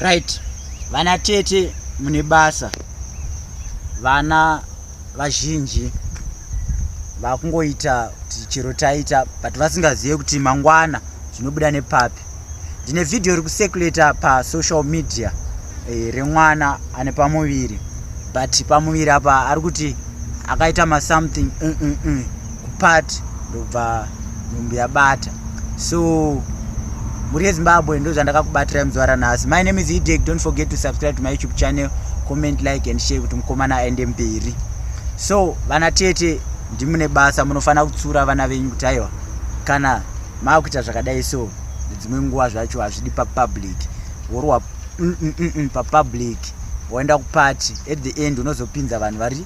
right vana tete mune basa vana vazhinji vakungoita kuti chero taita but vasingazive kuti mangwana zvinobuda nepapi ndine vhidhiyo rekusekuleta pasocial media e, remwana ane pamuviri but pamuviri apa ari kuti akaita masomething mm -mm -mm. kupart ndokubva nhumbu yabata so mhuri yezimbabwe ndo zvandakakubatira muzuva ranhasi my name is edek don't forget to subscribe to my youtube channel comment like and share kuti mukomana aende mberi so vana tete ndimune basa munofanira kutsura vana venyu kuti aiwa kana maakuita zvakadai so dzimwe nguva zvacho hazvidi papublic worwa mm, mm, mm, papublic waenda kupati at the end unozopinza vanhu vari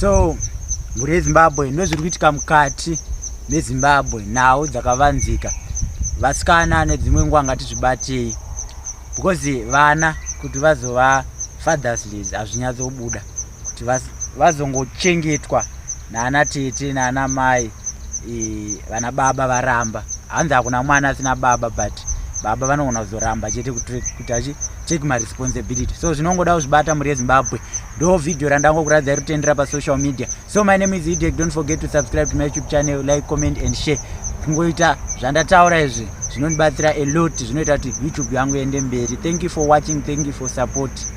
so mhuri yezimbabwe ndozviri kuitika mukati mezimbabwe nhau dzakavanzika vasikana nedzimwe nguva ngatizvibatei because vana kuti vazova fathers days hazvinyatsobuda kuti vazongochengetwa naana tete naana mai e, vana baba varamba hanzi hakuna mwana asina baba but baba vanogona kuzoramba chete kuti take my responsibility so zvinongoda kuzvibata muri yezimbabwe ndo video randangokuratidza iri kutendera pasocial media so my name is idek don't forget to subscribe to my youtube channel like comment and share kungoita zvandataura izvi zvinondibatsira a lot zvinoita kuti youtube yangu iende mberi thank you for watching thank you for support